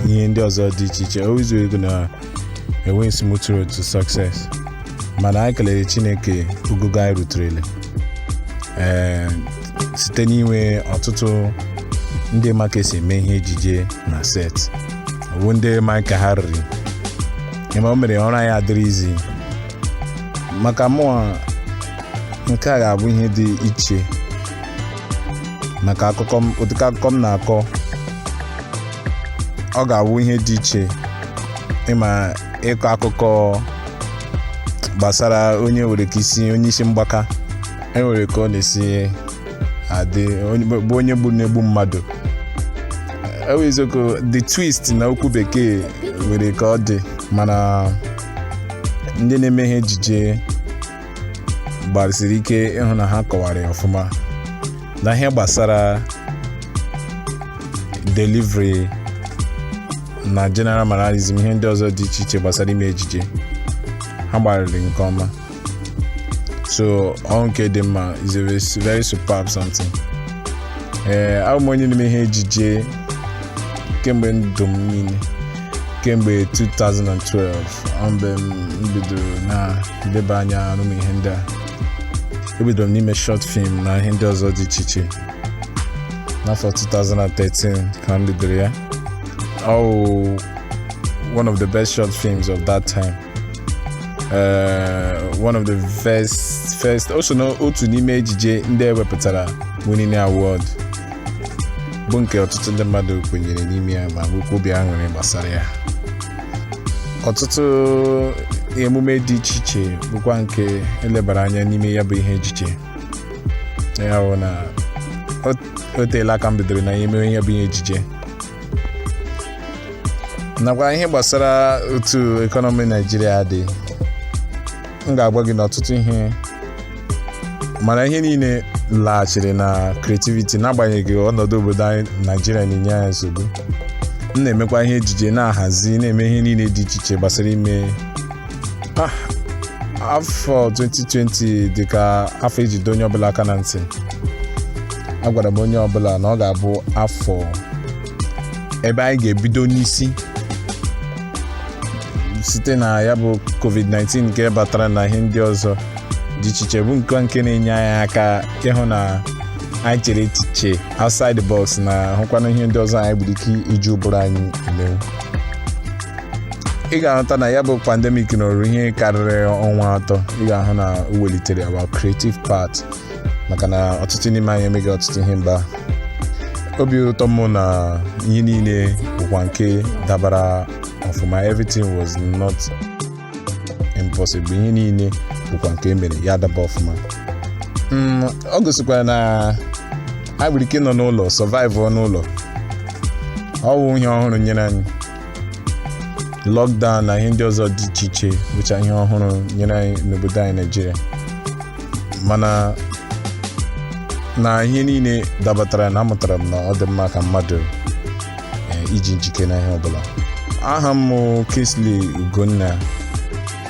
ihe ndị ọzọ dị iche iche always ị ga na-enwe smooth road to success mana anyị kelere chineke ogogo anyị ruterele ee site n'inwe ọtụtụ ndị ma ka esi eme ihe ejije na set ọ wụ ndị ma ka ha riri ịma o mere ọrụ anyị adịrị easy maka mụa nke a ga-abụ ihe dị iche maka ụdịka akụkọ m na-akọ ọ ga-abụ ihe dị iche ịma ịkọ akụkọ gbasara onye nwere ka isi onye isi mgbaka enwere ka ọ na-esi adị bụ onye gburu na-egbu mmadụ ọ wụ eziokwu the twist na okwu bekee nwere ka ọ dị mana ndị na-eme ihe ejije gbarịsiri ike ịhụ na ha kọwara ya ọfụma na ihe gbasara delivery na general mannerism ihe ndị ọzọ dị iche iche gbasara ime ejije ha gbarịrị nke ọma so ọ wụ nke dị mma it's a very- very superb something ee abụ m onye na-eme ihe ejije kemgbe ndụ m niile kemgbe 2012 ọ mgbe m bidoro na-eleba anya arụ ụmụ ihe ndị a ebidoro m n'ime short film na ihe ndị ọzọ dị iche iche n'afọ 2013 ka m bidoro ya ọ wụ one of the best short films of that time uh, one of the first first o so na otu n'ime ejije ndị ewepụtara winning award bụ nke ọtụtụ ndị mmadụ kwenyere n'ime ya ma nwekwa obi aṅụrị gbasara ya ọtụtụ emume dị iche iche bụkwa nke elebara anya n'ime ya bụ ihe ejije ya bụ na o- o teela aka m bidoro n'ime ya bụ ihe ejije nakwa ihe gbasara otu economy Naịjirịa dị m ga-agwa gị n'ọtụtụ ihe mana ihe niile laghachiri na creativity n'agbanyeghị ọnọdụ obodo anyị Naịjirịa na-enye anyị nsogbu m na-emekwa ihe ejije na-ahazi na-eme ihe niile dị iche iche gbasara ime Ah, afọ 2020 dị ka afọ ejide onye ọbụla aka na ntị agwara m onye ọbụla na ọ ga-abụ afọ ebe anyị ga-ebido n'isi site na ya bụ covid-19 nke batara na ihe ndị ọzọ dị iche iche bụ nke nke na-enye anyị aka ịhụ na anyị chere echiche outside the box na-ahụkwana ihe ndị ọzọ anyị nwere ike iji ụbụrụ anyị emewu ị ga-ahụta na ya bụ pandemic nọrọ ihe karịrị ọnwa atọ ị ga-ahụ na o welitere our creative part maka na ọtụtụ n'ime anyị emeghị ọtụtụ ihe mba obi ụtọ m na ihe niile bụkwa nke dabara ọfụma everything was not impossible ihe niile bụkwa nke emere ya daba ọfụma mm, o gosikwara na anyị nwere ike nọ n'ụlọ survive n'ụlọ ọ wụ ihe ọhụrụ nyere anyị lockdown na ihe ndị ọzọ dị iche iche bụcha ihe ọhụrụ nyere anyị n'obodo anyị Naịjirịa mana na ihe niile dabatara na amụtara m na ọ dị mma ka mmadụ eh, iji njike na ihe ọbụla aha m Kingsley Ugonna